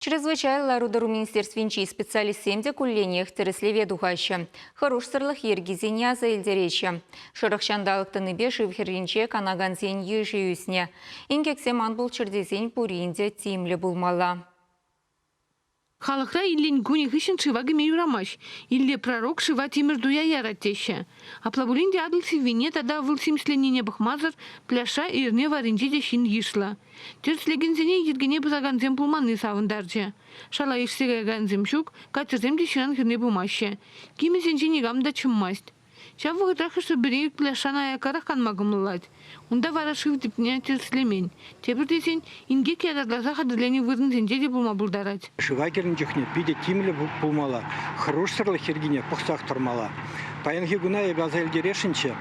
Чрезвычай лару-тӑру министерствинчи специалистсем те кулленех тӗрӗслеве тухаҫҫӗ, хӑрушсӑрлӑх йӗркисене аса илтереҫҫӗ. Шӑрӑх ҫанталӑк тӑнипе шыв хӗрринче канакансен йышӗ ӳснӗ. Инкексем ан пулччӑр тесен пурин те тимлӗ пулмалла. Халӑхра илен кунӗ хыҫҫӑн шыва кӗме юрамасть. Илле пророк шыва тимӗр туя ярать теҫҫӗ. Апла пулин те Атӑл сиввине тата вӑл симӗсленнине пӑхмасӑр пляжра эрне варринче те ҫын йышлӑ. Тӗрӗслекенсене йӗркене пӑсакансем пулманни савӑнтарчӗ. Шала ишсе каякансем ҫук, катерсем те ҫынран хӗрне пымаҫҫӗ. Кимӗсенче никам та чӑммасть. Ҫав вӑхӑтра хӑш-пӗри ӳклӗ шана аяккарах канма кӑмӑллать. Унта вара шыв типне тӗрӗслемен. Тепӗр тесен, инкек яратласа хатӗрленӗ вырӑнсенче те пулма пултарать. шыва кӗрнӗ чухне питӗ тимлӗ пулмалла, хӑрушсӑрлӑх йӗркине пӑхсах тӑрмалла. Паянхи куна эпӗ аса илтересшӗнччӗ,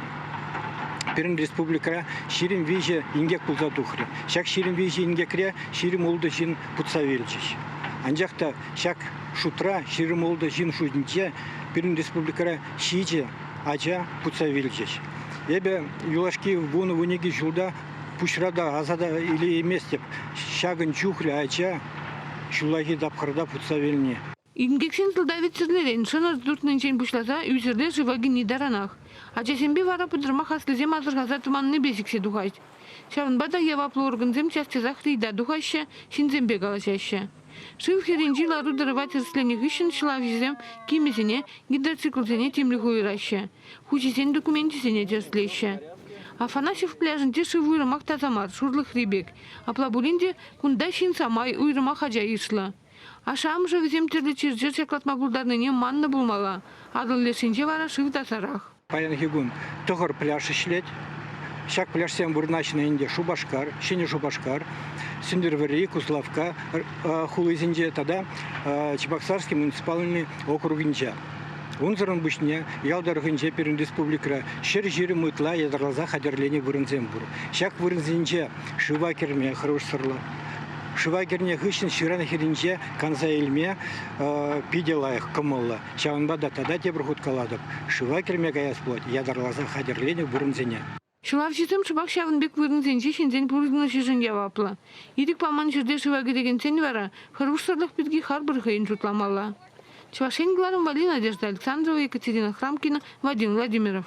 пирӗн республикӑра ҫирӗм виҫӗ инкек пулса тухрӗ. Ҫак ҫирӗм виҫӗ инкекре ҫирӗм ултӑ ҫын путса вилчӗҫ. Анчах та ҫак шутра ҫирӗм ултӑ ҫын шутӗнче пирӗн республикӑра ҫичӗ ача путса вилчӗҫ. Эпӗ юлашки вунӑ-вуникӗ ҫулта пуҫра та аса та илейместӗп ҫакӑн чухлӗ ача ҫуллахи тапхӑрта путса вилни. Инкексен сӑлтавӗ-сӗрнерен шӑнӑр туртнинчен пуҫласа ӳсӗрле шыва кӗни таранах. Ачасемпе вара пӑтӑрмах аслисем асӑрхаса тӑманнипе сиксе тухать. Ҫавӑнпа та яваплӑ органсем час-часах рейда тухаҫҫӗ, ҫынсемпе калаҫаҫҫӗ. Шыв хӗрринчи лару-тӑрӑва тӗрӗсленӗ хыҫҫӑн ҫӑлавҫӑсем кимӗсене, гидроциклсене тимлӗх уйӑраҫҫӗ, хуҫисен докуменчӗсене тӗрӗслеҫҫӗ. Афанасьев пляжӗнче шыв уйрӑмах таса мар, шурлӑхри пек. Апла пулин те кунта ҫын самай, уйрӑмах ача йышлӑ. Ашшӗ-амӑшӗ вӗсем тӗрлӗ чир-чӗр ҫаклатма пултарнине маннӑ пулмалла, Атӑл лешӗнче вара шыв тасарах. Паянхи кун тӑхӑр пляж ӗҫлет. Ҫак пляжсем вырнаҫнӑ ӗнтӗ Шупашкар, Ҫӗнӗ Шупашкар, Сӗнтӗрвӑрри, Куславкка хулисенче тата Чебоксарский муниципалитет округӗнче. Унсӑрӑн пуҫне ял тӑрӑхӗнче пирӗн республикӑра ҫӗр ҫирӗм ытла ятарласа хатӗрленӗ вырӑнсем пур. Ҫак вырӑнсенче шыва кӗрме хӑрушсӑрлӑх. Шыва кӗрнӗ хыҫҫӑн ҫыран хӗрринче канса илме питӗ лайӑх кӑмӑллӑ. Ҫавӑнпа та тата тепӗр хут калатӑп, шыва кӗрме каяс пулать, ятарласа хатӗрленӗ вырӑнсене. Ҫуралҫӑсем шӑпах ҫавӑн пек вырӑнсенче ҫынсен пурӑнӑҫӗшӗн яваплӑ. Ирӗк паман ҫӗрте шыва кӗрекенсен вара хӑрушсӑрлӑх пирки харпӑр хӑйӗн шутламалла. Чӑваш Ен кӑларӑмпа Надежда Александрова, Екатерина Храмкина, Вадим Владимиров.